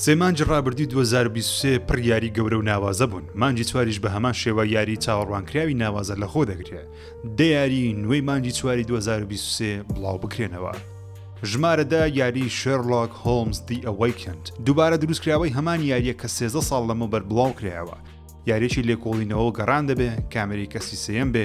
سێ مانجی ڕابردوی 2023 پڕ یاری گەورە و ناوازە بوون مانجی چواریش بە هەمان شێوە یاری چاوەڕوانکراوی ناوازە لە خۆ دەگرێ دەیاری نوێی مانجی چواری 2023 بڵاو بکرێنەوە. ژمارەدا یاری شێرلۆک هۆمز دی ئەوەیکند دووبارە دروستکراوەی هەمان یاریە کە سێزە ساڵ لەمە بەر بڵاو کرایەوە یاریی لێکۆڵینەوە گەڕان دەبێ کامێری کەسی سم بێ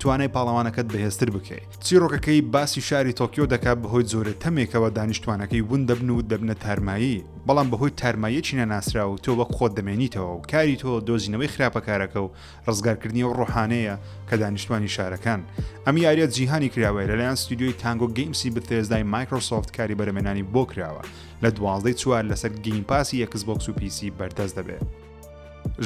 توانای پاڵەوانەکەت بەهێزتر بکەی. چیڕۆکەکەی باسی شاری تۆکیۆ دەکات بەهۆی جۆرە تەمێکەوە دانیشتوانەکەی ون دەبن و دەبنە تارمایی، بەڵام بەهۆی تارماییەکی نەناسراو تۆ وەک خۆت دەمێنیتەوە و کاری تۆ دۆزینەوەی خراپەکارەکە و ڕزگارکردنی ئەو ڕۆحانەیە کە دانیشتوانی شارەکان. ئەم یاریە جیهانی کراوەیە لەلایەن ستۆدیۆی تانگۆ گەیمسی بثێزدای مایکرۆسۆفت کاری بەرەمێنانی بۆ کراوە، لە دوازدە ی چوار لەسەر گەیمپاسی ئێکسبۆکس و پیسی بەردەست دەبێت.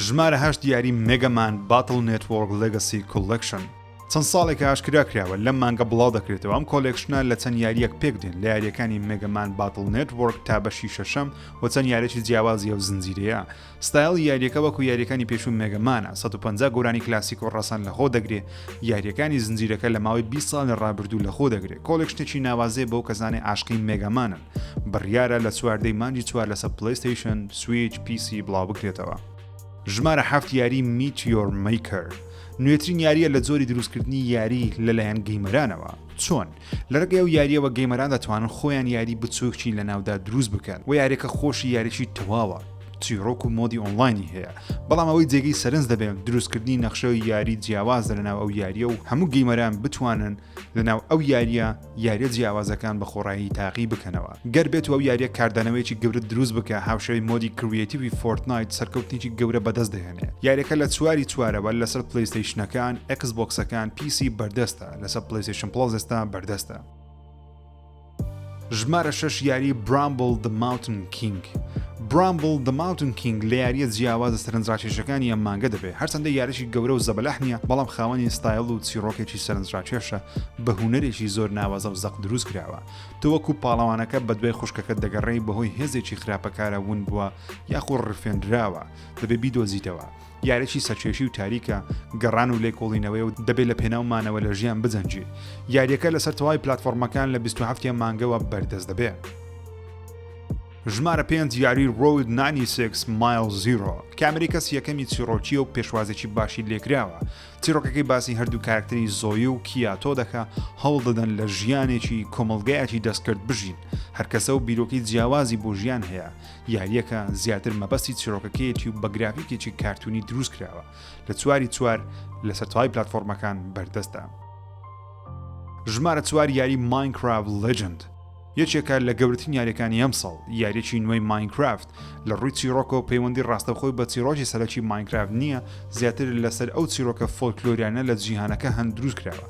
ژمارە هەشت یاری مێگە مان باتڵ نێتوۆرک لێگەسی کۆلێکشن چەند ساڵێکە ئاشکرا کراوە لەم مانگە بڵاو دەکرێتەوە ئەم کۆلێکشنە لە چەند یاریەک پێک دێن لە یاریەکانی مێگەمان باتڵ نێتوۆرک تا بەشی شەشەم و چەند یارێکی جیاوازیە و زنجیرەیە ستایل یاریەکە وەکو یاریەکانی پێشوو مێگەمانە 150 گۆرانی کلاسیک و ڕەسەن لە خۆ دەگرێ یاریەکانی زنجیرەکە لە ماوەی 20 ساڵ لە ڕابردوو لە خۆ دەگرێت کۆلێکشنێکی ناوازێ بەو کەزانێ عاشقی مێگەمانن بڕیارە لە چواردەی مانگی چوار لەسەر پلەیستەیشن، سویچ، پی سی بڵاوبکرێتەوە. ژمارە حەفت یاری میتیۆر مەیکەر نوێترین یارییە لە جۆری دروستکردنی یاری لەلایەن گەیمەرانەوە چۆن لەرگەی و یاریەوە گەیمەران دەتوانن خۆیان یاری بچووکی لە ناودا دروست بکەن و یاریەکە خۆشی یاریی تەواوە چیرۆک و مۆدی ئۆنلاینی هەیە بەڵام ئەوەی جێگەی سەرنج دەبێن دروستکردنی نەخشە و یاری جیاوازە لەناو ئەو یاریە و هەموو گەیمەران بتوانن لەناو ئەو یاریە یاریە جیاوازەکان بە خۆڕایی تاقی بکەنەوە گەر بێت و ئەو یاریە کاردانەوەیەکی گەورە دروست بکە هاوشێوەی مۆدی کرویتیوی فۆرتنایت سەرکەوتنیی گەورە بەدەست دەهێنێ یاریەکە لە چواری چوارەوە لەسەر پلەیستەیشنەکان ئێکس بۆکسەکان پیسی بەردەستە لەسەر پلەیستەیشن پڵەس ئێستا بەردەستە. ژمارە شەش یاری برامبل The Mountain King برامبل The Mountain King لە یاریە جیاوازە سەرنجڕاکێشەکانی ئەم مانگە دەبێت هەرچەندە یاریی گەورە و زەبەلاح نییە بەڵام خاوەنی ستایل و چیڕۆکێکی سەرنجڕاکێشە بە هوەرێکی زۆر ناوازە و زەق دروست کراوە تۆ وەکو پاڵەوانەکە بە دوای خوشکەکە دەگەڕێی بەهۆی هێزێکی خراپەکارە ون بووە یاخۆ ڕفێنراوە دەبێ بیدۆزیتەوە یاریی سەرکێشی و تاریکە، گەڕان و لێکۆڵینەوەیە و دەبێت لە پێناو مانەوە لە ژیان بجەنگی. یارییەکە لەسەر تەواوی پلاتفۆڕمەکان لە بیست و حەفت ی مانگەوە بەردەست دەبێت. ژمارە پێنج یاری Road 96 Mile Zero کامێرەی کەسی یەکەمی چیڕۆکیە و پێشوازێکی باشی لێکراوە چیرۆکەکەی باسی هەردوو کارکتەری زۆی و کیاتۆ دەکە هەوڵ دەدەن لە ژیانێکی کۆمەلگایەکی دەستکرد بژین هەرکەسە و بیرۆکی جیاوازی بۆ ژیان هەیە یاریەکە زیاتر مەبەستی چیرۆکەکەیەتی و بە گرافیکێکی کارتونی دروست کراوە لە چواری چوار لەسەر تەواوی پلتفۆرمەکان بەردەستە ژمارە چوار یاری ماینکراف لجند یەکێکە لە گەورترین یاریەکانی ئەمساڵ یاریەکی نوێی ماینکرافت لە ڕووی چیرۆکەوە پەیوەندی ڕاستەخۆی بە چیرۆکی سەرەکی ماینکرافت نییە زیاتر لەسەر ئەو چیرۆکە فۆلکلۆریانە لە جیهانەکە هەند دروست کراوە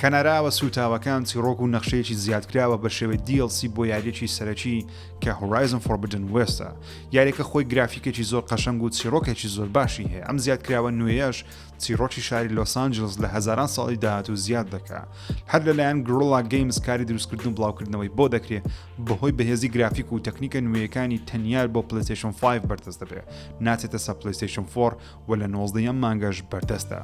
کەناراوە سووتاوەکان چیڕۆک و نەخشەیەکی زیادکراوە بە شێوەی DLC بۆ یاریەکی سەرەکی کە Horizon Forbidden West ە یاریەکە خۆی گرافیکێکی زۆر قەشەنگ و چیڕۆکێکی زۆر باشی هەیە ئەم زیادکراوە نوێیەش چیڕۆکی شاری لۆسانجلس لە هەزاران ساڵی داهات و زیاد دەکا هەر لەلایەن گرۆڵا گەیمز کاری دروستکردن بڵاوکردنەوەی بۆ دەکرێت بەهۆی بەهێزی گرافیک و تەکنیکە نوێیەکانی تەنیار بۆ پلیسیشن 5 بەردەست دەبێت ناچێتە سە پلیسیشن 4 و لە نۆزدە یەم مانگەش بەردەستە.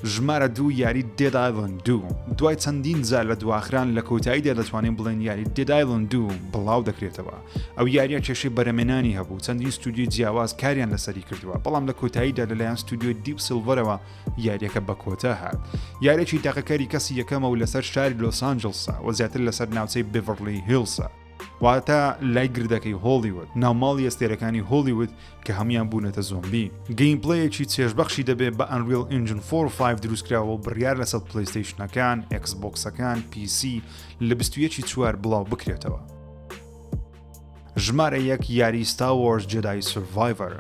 ژمارە دوو یاری دێد ئایلند دوو دوای چەندین جار لە دواخران لە کۆتاییدا دەتوانین بڵێن یاری دێد ئایلند دوو بڵاو دەکرێتەوە ئەو یاریە کێشەی بەرەمێنانی هەبوو چەندین ستودیو جیاواز کاریان لەسەری کردووە بەڵام لە کۆتاییدا لەلایەن ستودیو دیپ سیلڤەرەوە یاریەکە بە کۆتا هات یارێکی تاقەکاری کەسی یەکەمە و لەسەر شاری لۆسانجلسا و زیاتر لەسەر ناوچەی بڤڕلی هیلسە واتە لای گردەکەی هۆڵیوود ناوماڵی ئەستێرەکانی هۆلیوود کە هەموان بوونەتە زۆمبی گەیم پلەیەکی چێژبەخشی دەبێت بە ئەنریل ئنجن 45 دروستکراوە و بڕیار لەسەر پلیستیشنەکان ئەکسبکسەکان PC لە 21 چوار بڵاو بکرێتەوە ژمارە یەک یاری ستاوەرز جدای سڤایڤەر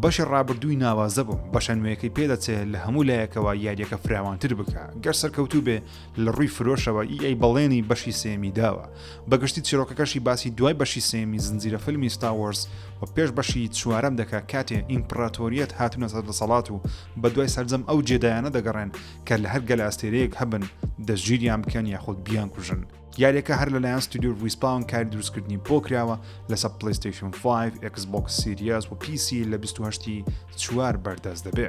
بەشی ڕابردووی ناوازە بوو بەشە نوێیەکەی پێدەچێت لە هەموو لایەکەوە یاریەکە فراوانتر بکە گەر سەرکەوتوو بێ لە ڕووی فرۆشەوە ئی ئەی بەڵێنی بەشی سێیەمی داوە، بە گشتی چیرۆکەکەشی باسی دوای بەشی سێیەمی زنجیرە فیلمی ستار وۆرز و پێش بەشی چوارەم دەکا کاتێ ئیمپڕاتۆریەت هاتوونەتە دەسەڵات و بە دوای سەرجەم ئەو جێدایانە دەگەڕێن کە لە هەر گەلەئەستێرەیەک هەبن دەستگیریان بکەن یاخود بیانکوژن. یاریەکە هەر لەلایەن ستۆدیۆ ڕیسپاون کاری دروستکردنی بۆ کراوە لەسەر پلەیستەیشن فایڤ، ئێکس بۆکس سیریەس و پیسی لە بیست و هەشت ی چوار بەردەست دەبێ.